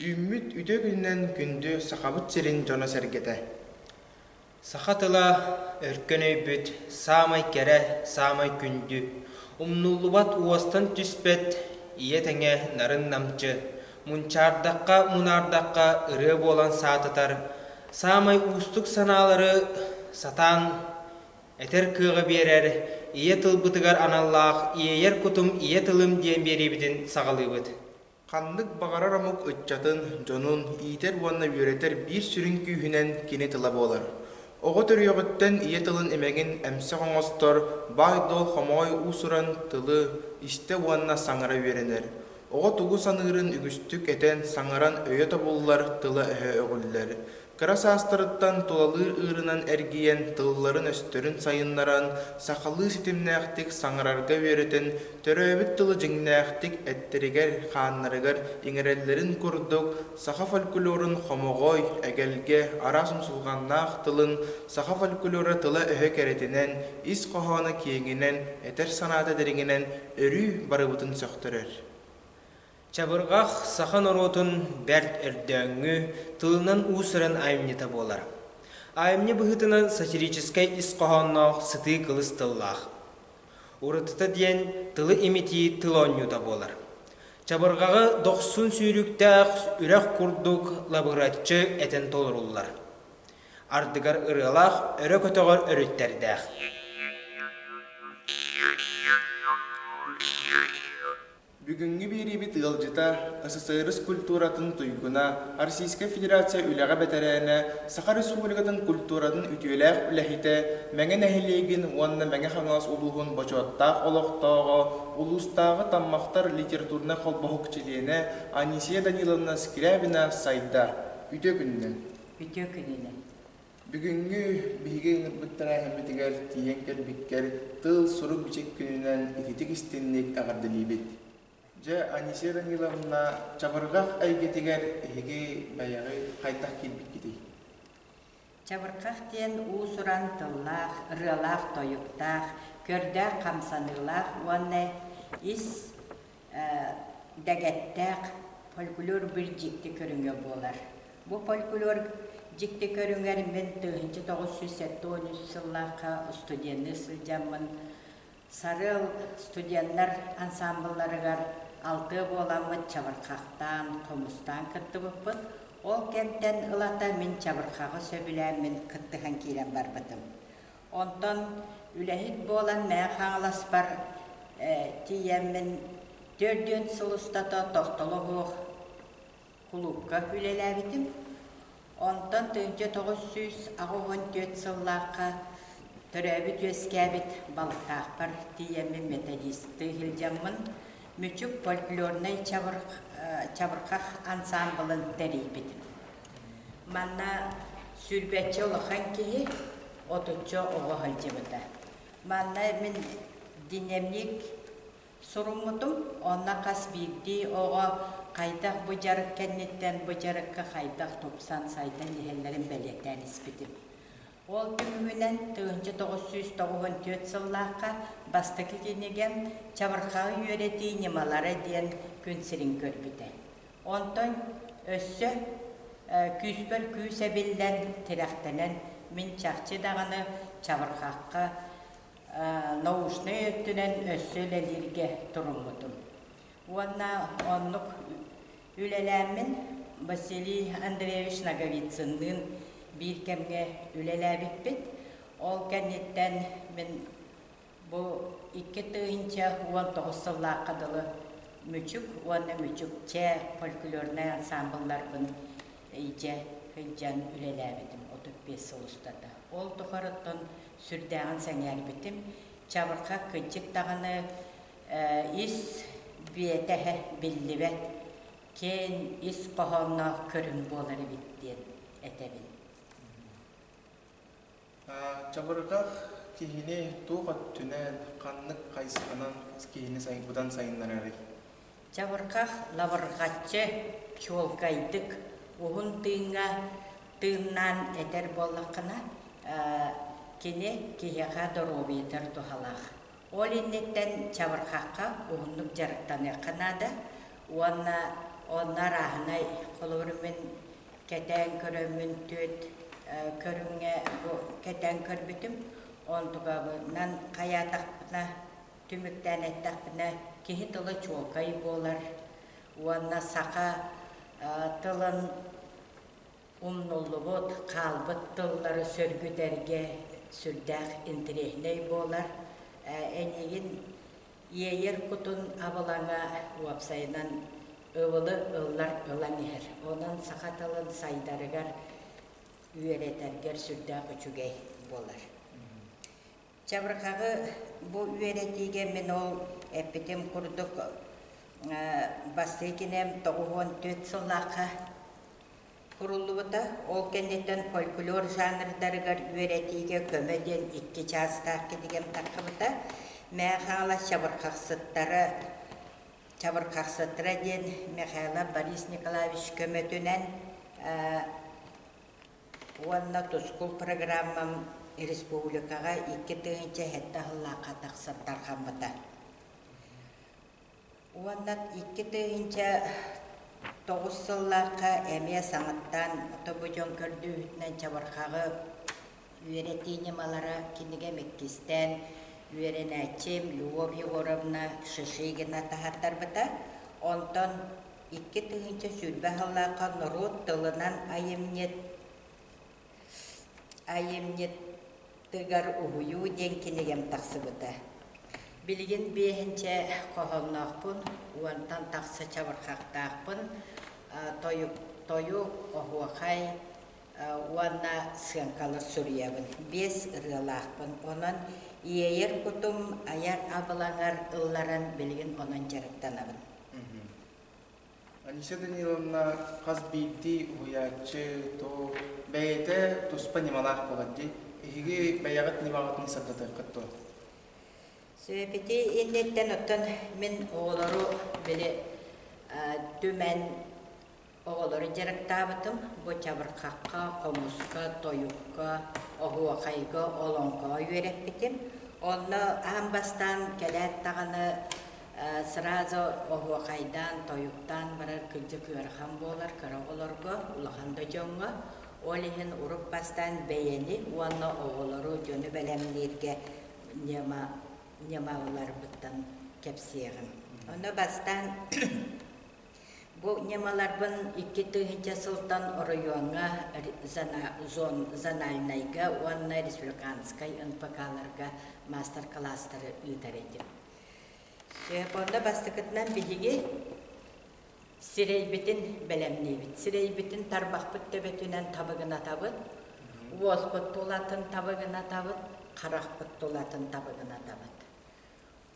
Үүммүт үтө күнүнэн күндү Сахабыт сирин дьоно-сэргэтэ! Саха тыла өркөн өйбүт саамай кэрэ, саамай күндү, умнуллубат уостан түспэт ийэ тэҥэ нарын намчы, мунчаардахха, мунаардахха ырыа буолан саатытар, саамай уустук санаалары сатаан этэр кыаҕы биэрэр, ийэ тылбытыгар аналлаах «Иэйэр кутум ийэ тылым» диэн биэриибитин саҕалыыбыт. Ханнык баҕарар омук ыччатын дьонун иитэр уонна үөрэтэр биир сүрүн күүһүнэн кини тыла буолар. Оҕо төрүөҕүттэн ийэ тылын имэҥин эмсэх оҥостор, баай-дуол хомоҕой уусуран тылы истэ уонна саҥара үөрэнэр. Оҕо тугу саныырын үгүстүк этэн, саҥаран өйө тобуллар тыла-өһө өҕүллэр. Кыра саастарыттан тулалыыр ыырынан эргийэн, тылларын-өстөрүн сайыннаран, сахалыы ситимнээхтик саҥарарга үөрэтэн, төрөөбүт тылы дьиҥнээхтик эттэригэр-хааннарыгар иҥэрэллэрин курдук, саха фольклорун хомоҕой, эгэлгэ, араас умсулҕаннаах тылын, саха фольклора тыла-өһө кэрэтинэн, ис хоһооно киэҥинэн, этэр санаата дириҥинэн өрүү барыбытын сөхтөрөр. Чабырҕах саха норуотун бэрт өрдөөҥҥү тылынан уусаран айымньыта буолар. Айымньы быһыытынан сатирическай ис хоһоонноох сытыы кылыс тыллаах. Уратыта диэн тылы имитии тыл оонньуута буолар. Чабырҕаҕа дохсун сүүрүктээх үрэх курдук лабыраччы этэн толоруллар. ардыгар ырыалаах, өрө көтөҕөр өрүттэрдээх. Бүгүҥҥү биэриибит ыалдьыта, СССР культуратын туйгуна, Российскай Федерация үлэҕэ бэтэрээнэ, Саха Республикатын культуратын үтүөлээх үлэһитэ, Мэҥэ нэһилиэгин уонна Мэҥэ Хаҥалас улууһун бочуоттаах олохтооҕо, улуустааҕы Таммахтар литературнай холбоһук чилиэнэ Анисия Даниловна Скрябина сайда. Үтүө күнүнэн! Үтүө күнүнэн! Бүгүҥҥү биһиги ыҥырбыт тэрээһиммитигэр тиийэн кэлбиккэр тыл-сурук-бичик күнүнэн ититик истинник эҕэрдэлиибит! Дьэ, Анисия Даниловна, чабырҕах эйгэтигэр эһиги бэйэҕит хайдах киирбиккитий? Чабырҕах диэн уус-уран тыллаах, ырыалаах-тойуктаах, көрдөөх хамсаныылаах уонна ис дэгэттээх фольклор бир дьикти көрүҥэ буолар. Бу фольклор дьикти көрүҥэр мин тыһынчы тогуз сүүс сэттэ он үс сыллаахха устуденныы сылдьаммын Сарыал студеннар ансамблларыгар алтыа буоламмыт чабырхахтаан, хомустаан кыттыбыппыт. Ол кэмтэн ылата мин чабырхаҕы сөбүлээммин кыттыһан киирэн барбытым. Онтон үлэһит буолан Мэхэ-Хаҥаласпар тиийэммин түөрт-дүөн сыл устата тохтолобуох кулуупка үлэлээбитим. Онтон тыһыынча тоҕус сүүс аҕыс уон түөрт сыллаахха төрөөбүт-үөскээбит Балтаахпар тиийэммин металлисты иһилдьэммин Мүчүк фольклорнай чабырҕах ансаамбылын тэрийбитим. Манна сүүрбэччэ улахан киһи, отучча оҕо сылдьыбыта. Манна мин динамик суруммутум, онно хас биирдии оҕо хайдах бу дьарык кэнниттэн бу дьарыкка хайдах тупсан сайдан иһэллэрин бэлиэтээн испитим. Ол түмүгүнэн тыһыынча тоҕус сүүс тоҕуһун түөрт сыллаахха бастакы кинигэм Чабырхаҕы үөрэтии ньымалара диэн күн сирин көрбүтэ. Онтон өссө күүспэр күүс эбиллэн, тирэхтэнэн, мин чахчы даҕаны чабырҕахха, научнай өттүнэн өссө үлэлииргэ туруммутум. Уонна оннук үлэлээммин Василий Андреевич Ноговицынныын биир кэмҥэ үлэлээбиппит. Ол кэнниттэн мин Бу икки тыһыынча уон тоҕус сыллаахха дылы Мүчүк уонна Мүчүк Чэ фольклорнай ансаамбылларбын ийдьэ сылдьан үлэлээбитим отут биэс сыл устата. Ол тухарыттан сүрдээҕин сэҥээрбитим, чабырҕах кырдьык даҕаны ис биэтэһэ биллибэт, киэҥ ис хоһоонноох көрүҥ буолар эбит диэн этэбин. Чабырытах киһини туох өттүнэн, ханнык хайысханан киһини сайбытан сайыннарарый? Чабырҕах лабырҕаччы, чуолкайдык, уһун тыыҥҥа тыыннаан этэр буоллаххына, кини киһиэхэ доруобуйатыгар туһалаах. Ол инниттэн чабырҕахха уһуннук дьарыктаныахха наада уонна онно арааһынай, холобур, мин Кэтээн көрөммүн түөрт көрүҥҥэ бу кэтээн көрбүтүм. Онтукабынан хайаатахпына, түмүктээн эттэхпинэ, киһи тыла чуолкай буолар уонна саха тылын умнуллубут, хаалбыт тыллары сөргүтэргэ сүрдээх интэриэһинэй буолар. Эйиигин Иэйэр кутун абылаҥа уопсайынан ыбылы ыллар ылан иһэр. Онон саха тылын сайдарыгар, үөрэтэргэр сүрдээх үчүгэй буолар. Чабырҕаҕы бу үөрэтиигэ мин ол эппитим курдук Бастыкинем тоҕуһуон түөрт сыллаахха Суруллубута, ол кэнниттэн фольклор жанрдарыгар үөрэтиигэ көмө диэн икки чаастаах кинигэм таххыбыта. Мээхаала чабырхахсыттара Чабырхахсыттара диэн Михайло Борис Николаевич көмөтүнэн уонна Тускул программам республикаҕа икки тыһыынча сэттэ аһыллаахха тахсан тарҕаммыта. Уонна икки тыһыынча тоҕус сыллаахха эмиэ саҥаттан тобудьуон көрдүүһүтүнэн чабырхаҕы үөрэтии ньымалара кинигэм иккистээн үөрэнээччим Любовь Егоровна Шишигина таһаардарбыта. Онтон икки тыһыынча сүүрбэ сыллаахха норуот тылынан айымньыт айымньыт Тыгар уһуйуу диэн кинигэм тахсыбыта. Билигин биэһинчэ хоһоонноохпун уонтан тахса чабырхахтаахпын, тойук, тойук, оһуохай уонна сыаҥкалар суруйабын. Биэс ырыалаахпын. Онон иэйэр кутум айар абылаҥар ылларан билигин онон дьарыктанабын. Анисия Даниловна хас биирдии уһуйааччы то бэйэтэ туспа ньымалаах буолар дии эһиги бэйэҕит ньымаҕытын сырдатыаххыт дуо Сөпети инниттэн оттон мин оҕолору били түмэн оҕолору дьарыктаабытым бу чабырхахха, хомуска, тойукка, оһуохайга, олоҥхоҕо үөрэппитим. Онно аан бастаан кэлээт даҕаны Сразу оһуохайдаан, тойуктаан барар кырдьык ыарахан буолар кыра оҕолорго, улахан да дьоҥҥо, ол иһин урут бастаан бэйэни уонна оҕолору дьону бэлэмнииргэ ньымаларбыттан кэпсиэҕим. Ону бастаан бу ньымаларбын икки тыһыынча сылтан оройуоҥҥа зональнайга уонна республиканскай НПК-ларга маастар-кылаастары ыытар этим. Онно бастакытынан биһиги сирэйбитин бэлэмниибит. Сирэйбитин тарбахпыт төбөтүнэн табыгынатабыт, уолбут тулатын табыгынатабыт, харахпыт тулатын табыгынатабыт.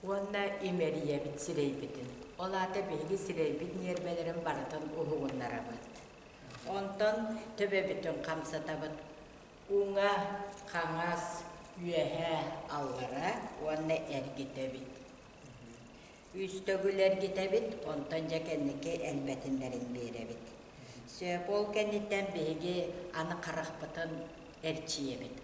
Уонна имэрийэбит сирэйбитин. Ол аата биһиги сирэйбит ньиэрбэлэрин барытын уһугуннарабыт. Онтон төбөбүтүн хамсатабыт. Пууҥҥа хаҥас, үөһээ аллара уонна эргитэбит. Үүстөгүл эргитэбит, онтон дьэ кэнники элбэтиннэрин биэрэбит. Сөп ол кэнниттэн биһиги аны харахпытын эрчийэбит.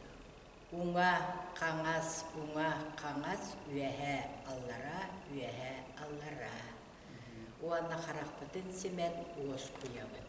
Уҥа хаҥас, уҥа хаҥас, үөһээ аллара, үөһээ аллара. Уонна харахпытын симэн уоскуйабыт.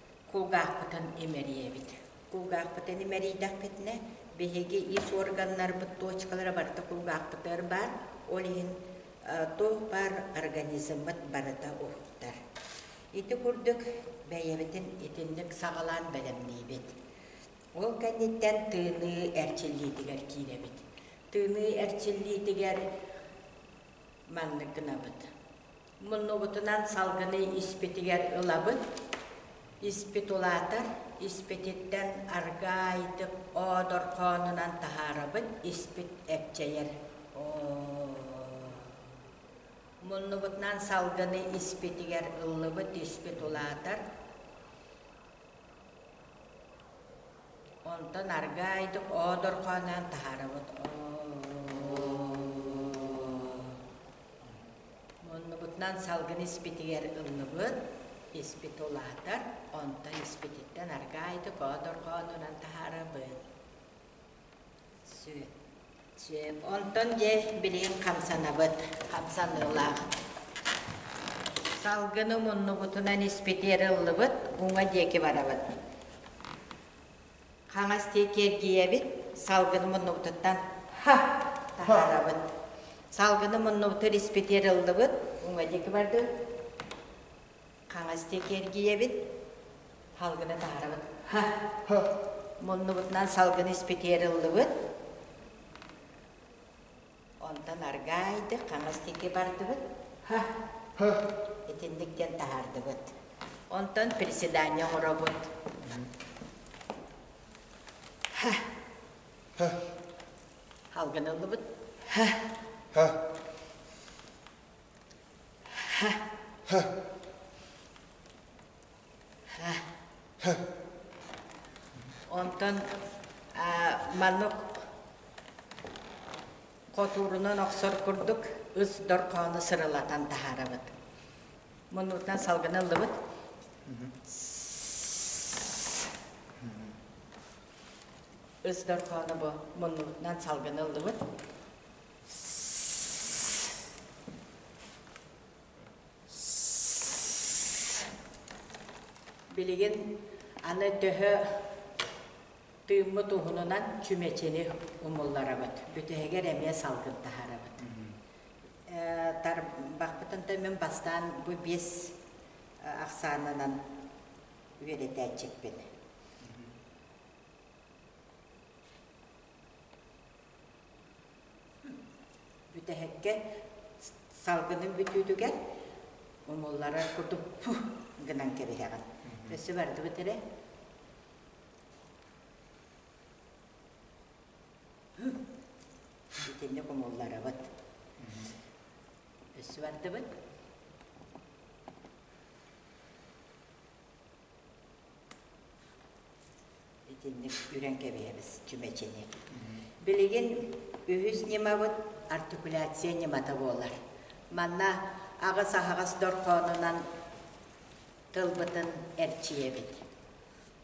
кулгаахпытын имэрийэбит. Кулгаахпытын имэрийдэхпитинэ, биһиги ис органнарбыт точкалара барыта кулгаахпыта ырбаан, ол иһин туох-баар организммыт барыта уһуктар. Ити курдук бэйэбитин итинник саҕалаан бэлэмниибит. Ол кэнниттэн тыыныы эрчиллиитигэр киирэбит. Тыыныы эрчиллиитигэр маннык гынабыт. Муннубутунан салгыны испитигэр ылабын. Испит улаатар, испититтэн аргаайдык оодорхоонунан таһаарабын, испит эпчэйэр. Муннубутунан салгыны испитигэр ыллыбыт, испит улаатар. Онтон аргаайдык оодорхоонунан таһаарабыт. Муннубутунан салгын испитигэр ыллыбыт, испит улаатар, онтон испититтэн аргаа ити коодорҕоонунан таһаарабыт. Сү. Сөп. Онтон дьэ билигин хамсанабыт, хамсаныылаах. Салгыны муннубутунан испитигэр ыллыбыт, уҥа диэки барабыт. Хаҥас диэки эргийэбит, салгыны муннубутуттан ха! таһаарабыт. Салгыны муннубутугар испитиэр ыллыбыт, уҥа диэки бардыбыт. Хаҥас диэки эргийэбит, салгыны таһаарабыт. Ха! Муннубутунан салгыны испитиэр ыллыбыт. Онтон аргаа айдык хаҥас диэки бардыбыт. Һа, һы. Итинник диэн таһаардыбыт. Онтон приседание оҥоробут. Һа, Һа, Алгыныллыбыт. һа, һа, һа. һа. Онтон маннык хотуурунан охсор курдук ыс дорхоону сырылатан таһаарабыт. Муннутан салгына ыллыбыт. Ыс дорхоону бу муннутунан салгына ыллыбыт. Билигин аны төһө тыыммыт уһунунан чүмэчини умулларабыт, бүтэһигэр эмиэ салгынтаһарабыт. Э, тарбахпытын да мин бастаан бу биэс э, ахсаанынан үөдэтээччиппин. Бүтэһиккэ салгыным бүтүүтүгэр умуллара курдук гынан кэбиһэҕин. Өссө барды бүтэрэ. Итинник умулларабыт. Өссө бардыбыт. Итинник үрэн кэбиһэбис чүмэчини. Билигин үһүс ньымабыт артикуляция ньымата буолар. Манна аҕыс-аһаҕас дорҕоонунан тылбытын эрчийэбит.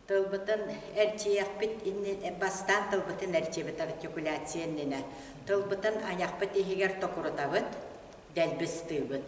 Тылбытын эрчийэхпит иннин бастаан тылбытын эрчийэбит артикуляция иннинэ. Тылбытын айахпыт иһигэр токурутабыт, дэлбистиибит.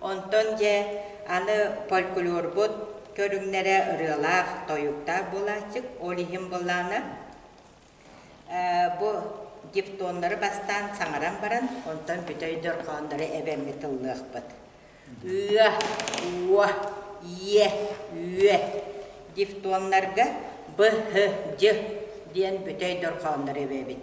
Онтон дьэ аны фольклорбут көрүҥнэрэ ырыалаах, тойуктаах буолааччык, ол иһин буоллаҕына бу дифтоннары бастаан саҥаран баран, онтон бүтэй дорҕооннору эбэммит ыллыахпыт. Ыа, уо, иэ, үө. Дифтоннарга б, һ, дь диэн бүтэй дорҕооннору эбэбит.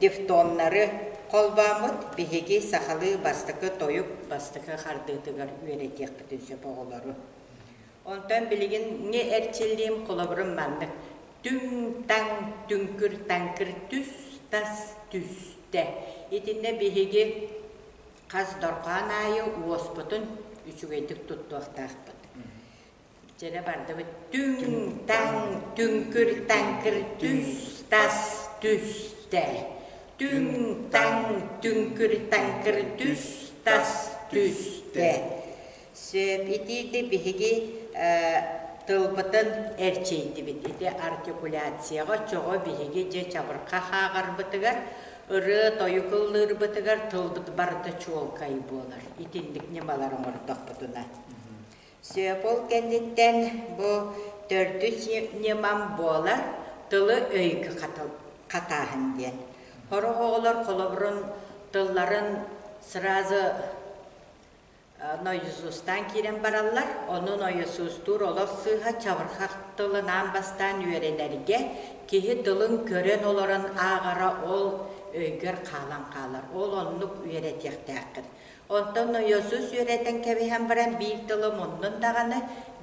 Дифтоннары холбооммут биһиги сахалыы бастакы тойук бастакы хардыытыгар үөрэтиэхпитин сөп оҕолору. Онтон билигин ҥи эрчиллиим холобурум маннык. Түҥ-таҥ, түҥкүр-таҥкыр түс, тас түстэ. Итиннэ биһиги хас дорҕоон аайы уоспутун үчүгэйдик туттуохтаахпыт. Дьэ бардыбыт түҥ таҥ түҥкүр таҥкыр түс тас түс тэл түҥ таҥ түҥкүр таҥкыр түс тас түс тэй сөп итиити биһиги тылбытын эрчийдибит ити артикуляцияҕа чоҕу биһиги дьэ чабырҕа хааҕарбытыгар ырыа тойук ыллыырбытыгар тылбыт барыта чуолкай буолар итинник ньымалары оҥордохпутуна Сөпул кэнниттэн бу төрдүс ньымам буолар тылы-өйгө хатааһын диэн. Сорох оҕолор холобурун тылларын сразу нойзустаан киирэн бараллар, ону нойзустуур олох сыыһа чабырхах тылынаан бастаан үөрэнэргэ киһи тылын көрөн олорон ааҕара ол өйгөр хаалан хаалар. Ол оннук үөрэтиэхтээххин. Онтон нойосус үөрэтэн кэбиһэн баран биир тылы муннун даҕаны,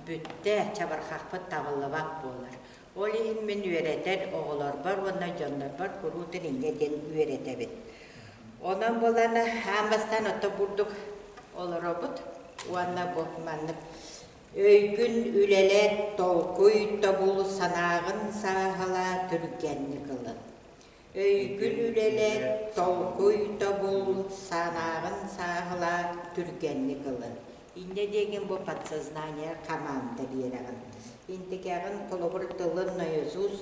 бүттэ, чабырҕахпыт табыллыбат буолар. Ол иһин мин үөрэтэр оҕолорбор уонна дьоннорбор куруу тилинньэ диэн үөрэтэбин. Онон булан аан бастаан оттон бурдук олоробут уонна бу маннык өйгүн үлэлэт, толкуй, тобул, санааҕын сааһыла түргэнник ылын. өйгүн үлэлэт, толкуй-тобул, санааҕын сааһылаат, түргэнник ылын. Инньэ диэҥин бу подсознание хамаанда биэрэҕин. Интикэҕин, холобур, тылын наизус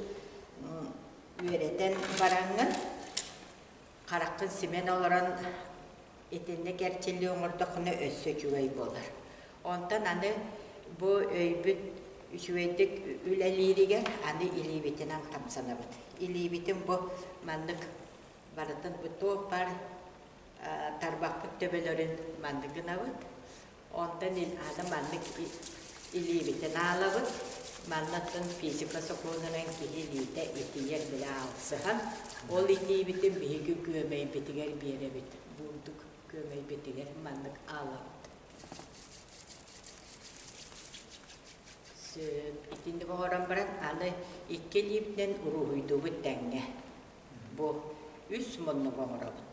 үөрэтэн бараҥҥын, хараххын симэн олорон Итиннэ кэрчиллии оҥордоххуна өссө үчүгэй буолар. Онтон аны бу өйбүт үчүгэйдик үлэлииригэр аны илиибитинэн хамсанабыт. Илиибитин бу маннык барытын бу туох баар тарбахпыт төбөлөрүн маннык гынабыт. Онно мин аны маннык илиибитин аалабын, маннаттан физика сокуонунан киһи илиитэ итийэр били аалсыһан, ол итиибитин биһиги күөмэйбитигэр биэрэбит, буурдук күөмэйбитигэр маннык аалабыт. Сөп, итинник оҥорон баран аны икки илиибинэн уруһуйдуубут тэҥҥэ. Бу үс муннук оҥоробут.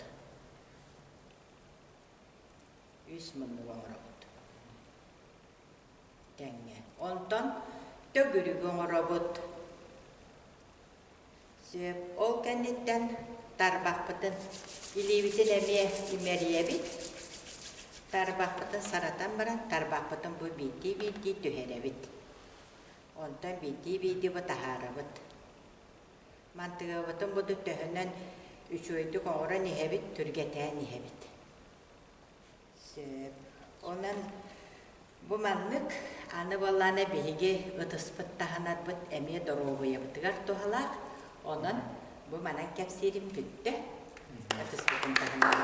үс муннуга оҥоробут. Тэҥҥэ. Онтон төгүрүгү оҥоробут. Сөп. Ол кэнниттэн тарбахпытын, илиибитин эмиэ имэрийэбит. Тарбахпытын саратан баран, тарбахпытын бу биирдии-биирдии түһэрэбит. Онтон биирдии-биирдии бу таһаарабыт. Мантыгабытын буду төһөнөн үчүгэйдик оҥорон иһэбит, түргэтээн иһэбит. Сөп. Онон бу маннык аны буоллаана биһиги ытыспыт таһынарбыт эмиэ доруобуйабытыгар туһалаах. Онон бу манан кэпсиирим бүттэ. Ытыспытын таһынан.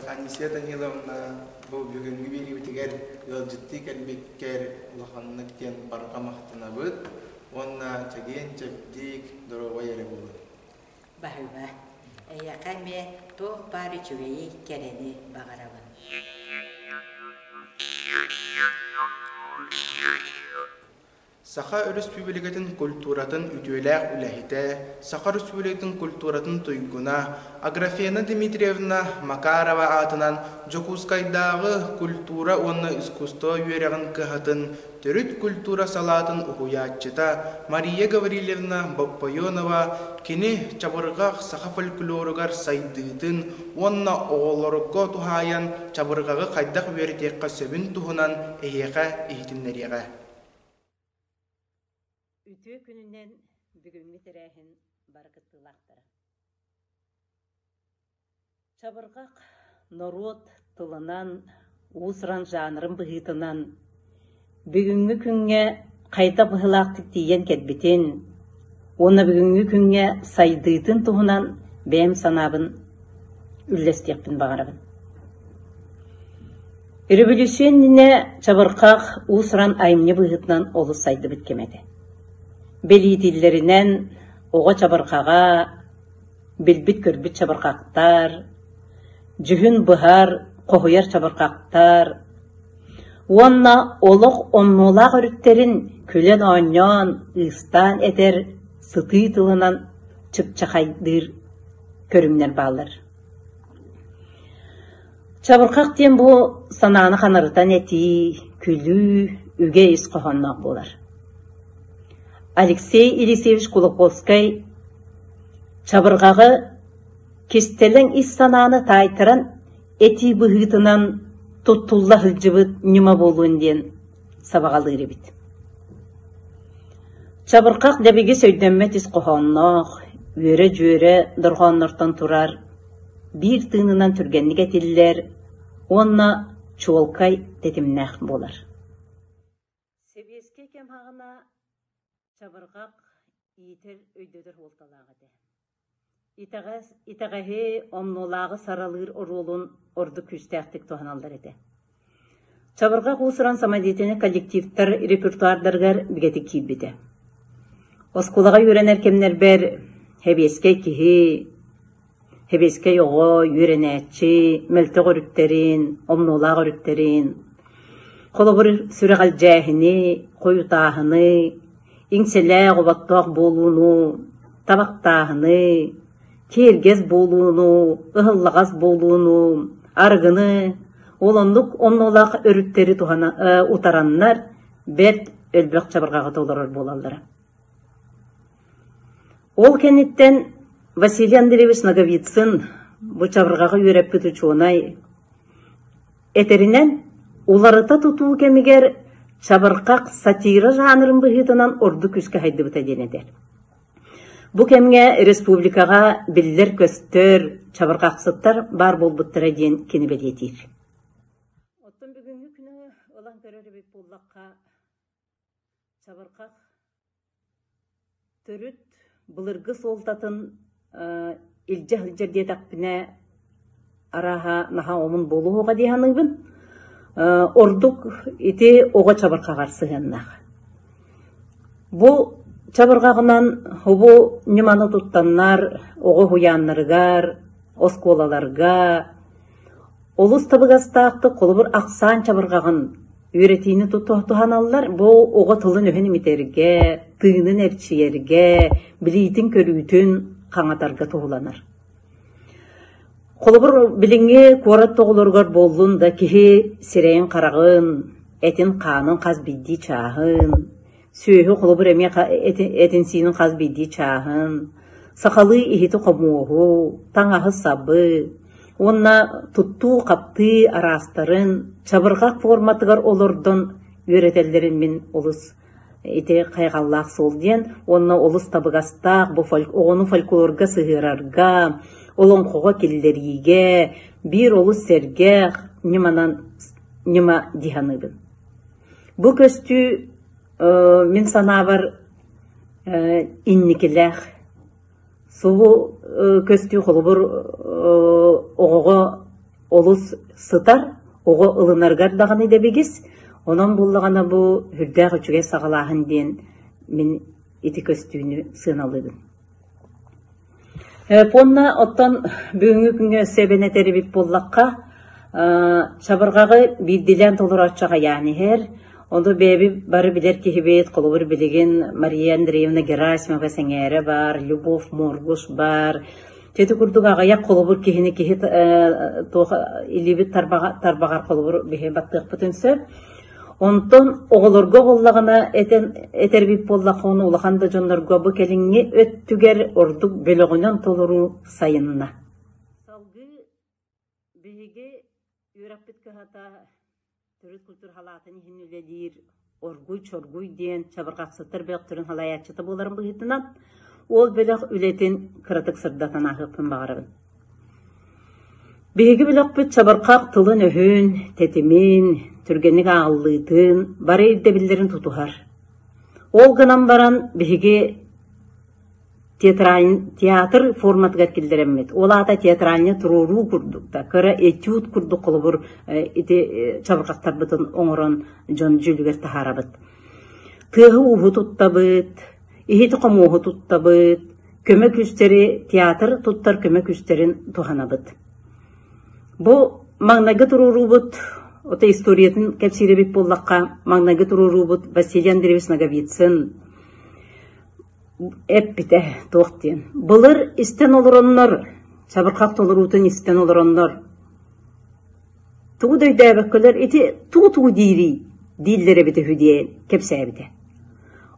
Анисия Даниловна бу бүгүҥҥү видеобитигэр ыалдьыттыы кэлбиккэр улаханнык диэн барҕа махтанабыт уонна чэгиэн чэбдик, доруобай эрэ буолун. Баһыыба, эйиэхэ эмиэ туох баар үчүгэйи, кэрэни баҕарабын. Саха Өрөспүүбүлүкэтин культуратын үтүөлээх үлэһитэ, Саха Өрөспүүбүлүкэтин культуратын туйгуна Аграфена Дмитриевна Макарова аатынан Дьокуускайдааҕы культура уонна искусство үөрэҕин кыһатын Төрүт культура салаатын уһуйааччыта Мария Гаврильевна Боппойонова кини чабырҕах саха фольклоругар сайдыытын уонна оҕолорго туһаайан чабырҕаҕы хайдах үөрэтиэххэ сөбүн туһунан эһиэхэ иһитиннэриэҕэ. Үтүө күнүнэн бүгүҥҥү тэрээһин бары кыттыылаахтара! Чабырҕах норуот тылынан, уус-уран жанрын быһыытынан бүгүҥҥү күҥҥэ хайдах быһыылаахтык тиийэн кэлбитин уонна бүгүҥҥү күҥҥэ сайдыытын туһунан бэйэм санаабын үллэстиэхпин баҕарабын. Өрөбөлүүссүйэннинэ чабырҕах уус-уран айымньы быһыытынан олус сайдыбыт кэмэ этэ. Бэлиэтииллэринэн, оҕо чабырҕаҕа Билбит-көрбүт чабырҕахтар, дьүһүн быһар, хоһуйар чабырҕахтар уонна олох оннулаах өрүттэрин күлэн-оонньоон, ыыстаан этэр, сытыы тылынан чыпчахайдыыр көрүҥнэр бааллар. Чабырҕах диэн бу санааны ханарытан этии, күлүү, үгэ ис хоһоонноох буолар. Алексей Елисеевич Кулаковскай Чабырҕаҕы кистэлэҥ ис санааны таайтаран, этии быһыытынан туттулла сылдьыбыт ньыма буолуон диэн сабаҕалыыр эбит. Чабырҕах дэбигис өйдөммөт ис хоһоонноох, үөрэ-дьүөрэ дорҕооннортон турар, биир тыынынан түргэнник этиллэр уонна чуолкай тэтимнээх буолар. чабырҕах, иитэр, өйдөтөр суолталаах этэ. Итэҕэс, итэҕэһи, омнуолааҕы саралыыр оруолун ордук күүстээхтик туһаналлар этэ. Чабырҕах уусуран самодеятельный коллективтар репертуардарыгар бигэтик киирбитэ. Оскуолаҕа үөрэнэр кэмнэрбэр, хэбиэскэй киһи, Сэбиэскэй оҕо, үөрэнээччи мөлтөх өрүттэрин, омнуолаах өрүттэрин, холобур, сүрэҕэлдьээһини, хойутааһыны, иҥсэлээх, оботтоох буолууну, табахтааһыны, киэргэс буолууну, ыһыллаҕас буолууну, арыгыны, ол оннук омнуолаах өрүттэри туһана утараннар бэрт өлбөх чабырҕаҕа толорор буолаллара. Ол кэнниттэн Василий Андреевич Ноговицын бу чабырҕаҕы үөрэппит учуонай этэринэн, уларыта тутуу кэмигэр чабырҕах сатира жанрын быһыытынан ордук күүскэ сайдыбыта диэн этэр. Бу кэмҥэ республикаҕа биллэр-көстөр чабырҕахсыттар баар буолбуттара диэн кини бэлиэтиир. Оттон бүгүҥҥү күнү ылан көрөр эбит буоллахха, Чабырҕах төрүт былыргы суолтатын илдьэ сылдьар диэтэхпинэ арааһа наһаа омун буолуо суоҕа дии саныыбын. ордук ити оҕо чабырҕаҕар сыһыаннаах. Бу чабырҕаҕынан бу ньыманы туттаннар оҕо уһуйааннарыгар, оскуолаларга Олус табыгастаахтык холобур ахсаан чабырҕаҕын үөрэтиини туһаналлар бу оҕо тылын-өһүн имитэргэ, тыынын эрчийэргэ, билиитин-көрүүтүн хаҥатарга туһуланар. Холобур, билиҥҥи куорат оҕолоругар буоллун да киһи сирэйин-хараҕын, этин-хаанын хас биирдии чааһын, сүөһү холобур эмиэ этин-сиинин хас биирдии чааһын, сахалыы иһити-хомуоһу, таҥаһы-сабы уонна туттуу-хаптыы араастарын чабырҕах форматыгар олордон үөрэтэллэрин мин олус ити хайҕаллаах суол диэн уонна олус табыгастаах бу фольк оҕону фольклорга сыһыарарга, олоҥхоҕо киллэриигэ биир олус сэргэх ньыманан ньыма дии саныыбын. Бу көстүү мин санаабар инникилээх. Субу көстүү холобур оҕоҕо олус сытар, оҕо ылынаргар даҕаны дэбигис. Онон буллаҕына бу үрдээх үчүгэй саҕалааһын диэн мин ити көстүүнү сыаналыыбын. Уонна оттон бүгүҥҥү күҥҥэ сэбиэнэ тэрибит буоллахха, чабырҕаҕы биирдиилээн толорооччу аҕыйаан иһэр. Ону бэйэбит бары билэр киһибит, холобур, билигин Мария Андреевна Герасимова сэҥээрэ баар, Любовь Моргуш баар. Чэ ити курдук аҕыйах холобур киһини киһи туох илиибит тарбаҕар холобур биһи баттыахпытын сөп. Онтон оҕолорго буоллаҕына этэн этэрбит буоллахха ону улахан да дьоннорго бу кэлиҥҥи өттүгэр ордук бөлөҕүнэн толоруу сайынна. Салгыы биһиги үөрэппит кыһата төрүт культура халаатын иһин үлэлиир Оргуй Чоргуй диэн чабырҕахсыттар бөлөхтөрүн салайааччыта буоларын быһыытынан ол бөлөх үлэтин кыратык сырдатан ааһыахпын баҕарабын. Биһиги бөлөхпүт сабырхах тылын-өһүн, тэтимин, түргэнник ааҕыллыытын, бары ирдэбиллэрин тутуһар. Ол гынан баран биһиги театраль театр форматыгар киллэрэммит. Ол аата театральнай туруоруу курдук да, кыра этюд курдук холобур ити чабырҕахтарбытын оҥорон дьон дьүүлүгэр таһаарабыт. Тыаһы-ууһу туттабыт, иһит-хомуоһу туттабыт, көмө күстэри, театр туттар көмө күстэрин туһанабыт. Бу маҥнайгы туруоруубут, ото историятын кэпсиирэбит буоллахха, маҥнайгы туруоруубут Василий Андреевич Ноговицын эппитэ туох диэн. Былыр истэн олороннор, чабырхах толоруутун истэн олороннор, тугу да өйдөөбөккөлөр ити тугу-тугу диирий дииллэр эбитэ үһү диэн кэпсээбитэ.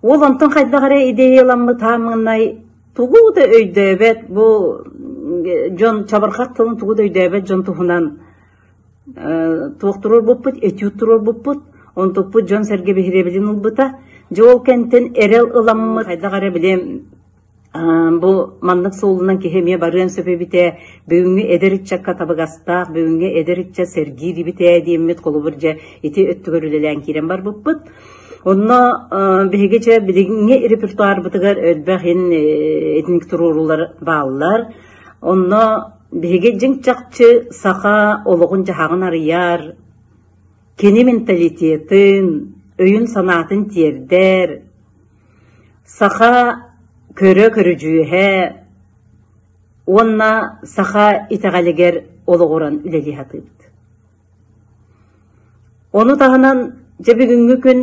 Уол онтон хайдах эрэ идеяламмыт аан маҥнай тугу да өйдөөбөт бу дьон чабырхах тылын тугу да өйдөөбөт дьон туһунан туохтурурбуппут этюд туруорбуппут онтукпут дьон-сэргэ биһириэбилин ылбыта дьэ ол кэнтэн эрэл ыламмыт хайдах эрэ били Бу маннык суолунан киһи эмиэ барыан сөп эбит ээ, бүгүҥҥү эдэр ыччакка табыгастаах, бүгүҥҥү эдэр ыччат сэргиир эбит ээ диэммит холобур дьэ ити өттүгэр үлэлээн киирэн барбыппыт. Онно биһиги дьэ билиҥҥи репертуарбытыгар элбэх ин итинник туруоруулар бааллар. Онно биһиги дьиҥ-чахчы саха олоҕун-дьаһаҕын арыйар, кини менталитетын, өйүн-санаатын тиэрдэр, Саха көрө көрүдьүөһэ уонна саха итэҕэлигэр олоҕуран үлэлии сатыыбыт. Ону таһынан дьэ бүгүҥҥү күн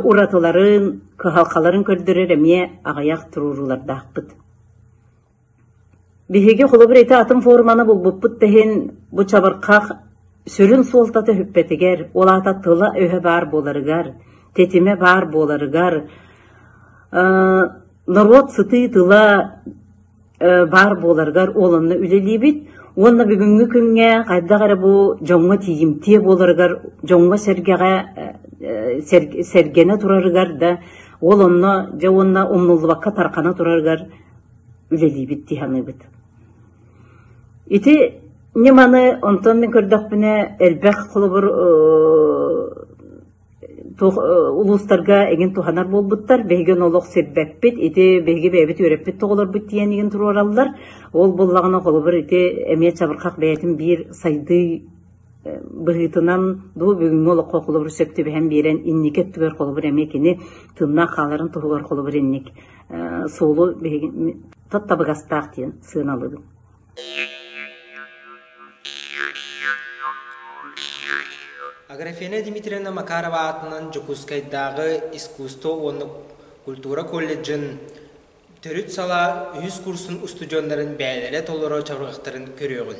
уратыларын, кыһалҕаларын көрдөрөр эмиэ аҕыйах туруоруулардаахпыт. Биһиги холобур ити атын форманы булбуппут да иһин, бу чабырхах сүрүн суолтата үппэтигэр, ол аата тыла-өһө баар буоларыгар, тэтимэ баар буоларыгар, э норуот сытыы тыла э баар буоларыгар ол онно үлэлиибит уонна бүгүҥҥү күҥҥэ хайдах эрэ бу дьоҥҥо тиийимтиэ буоларыгар, дьоҥҥо-сэргэҕэ э сэргэнэ турарыгар да, ол онно дьэ уонна умнуллубакка тарҕана турарыгар үлэлиибит дии саныыбыт. Ити ньыманы онтон мин көрдөхпүнэ элбэх холобур туох улуустарга эҥин туһанар буолбуттар биһиги ону олох сирбэппит ити биһиги бэйэбит үөрэппит тоҕолорбут тиийэн игин туруораллар ол буллаҕына холобур ити эмиэ чабырхах бэйэтин биир сайдыы быһыытынан дуу бүгүҥҥү олоххо холобур сөп түбэһэн биэрэн инники өттүгэр холобур эмиэ кини тыыннаах хааларын туһугар холобур инник суолу биһиги тот табыгастаах диэн сыаналыыбын Аграфена Дмитриевна Макарова аатынан Дьокуускайдааҕы искусство уонна культура колледжын төрүт сала үһүс курсун устудьуоннарын бээлэрэ толору чабырҕахтарын көрүөҕүн.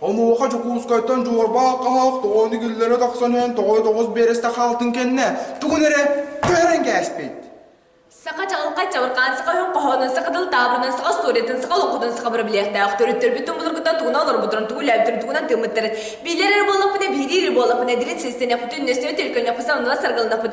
Онуоха Дьокуускайтан дьуорбаах хаһаах тоҕоон игиллэрэ тахсан иһэн тоҕой тоҕус биэрэстэ хаалтын кэннэ тугун эрэ көһөрөн кээспит. Саха чаҕылхай чабырҕаан саха өһүн хоһоонун саха тыл таабырынан саха историятын саха олоҥхутун саха бырабилиэхтээх төрүттэрбит тумулургуттан тугуна олорбутун тугу үлэбитин тугунан тыыммыттарын биилэр эрэ буоллахпына биирии эрэ буоллахпына дириҥ сиэстэнэхпитин үннэстинэ төлкөннөхпүт сананала саргыланахпыт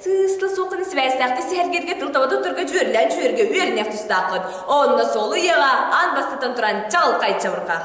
Сыыста суоххун сибээстээхтик сэһэргииргэ тылтабыта турга дьүөрэлээн-дьүөргэ үөрэниэх тустааххын. Онно суолуйаҕа аан бастатан туран чаҕылхай чабырҕах.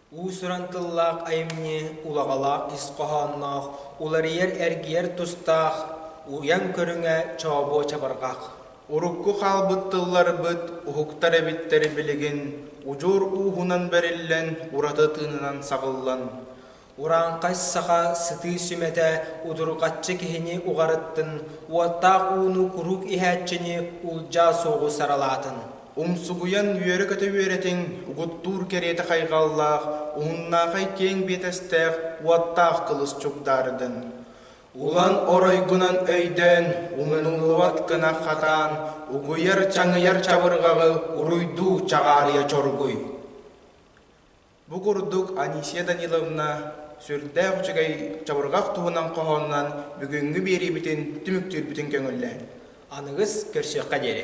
Уус-уран тыллаах айымньы улаҕалаах ис хоһоонноох, уларыйар-эргийэр тустаах, уйан көрүҥэ чообуо чабырҕах. Урукку хаалбыт тылларбыт, уһуктар эбиттэр билигин удьуор ууһунан бэриллэн, ураты тыынынан саҕыллан, урааҥхай саха сытыы сүмэтэ удурҕаччы киһини уҕарыттын, уоттаах ууну куруук иһээччини улдьаа суоҕу саралаатын. Умсугуйан үөрэ-көтө үөрэтиҥ, угуттуур кэриэтэ хайҕаллаах, уһуннаахай киэҥ биэтэстээх уоттаах кылыс чугдаардын. Улан оройгунан өйдөөн, умнуллубат гына хатаан, угуйар-чаҥыйар чабырҕаҕы уруйдуу чаҕаарыйа чоргуй. Бу курдук Анисия Даниловна сүрдээх үчүгэй чабырҕах туһунан хоһоонунан бүгүҥҥү биэриибитин түмүктүүрбүтүн көҥүллээн. Аныгыс көрсүөххэ диэри.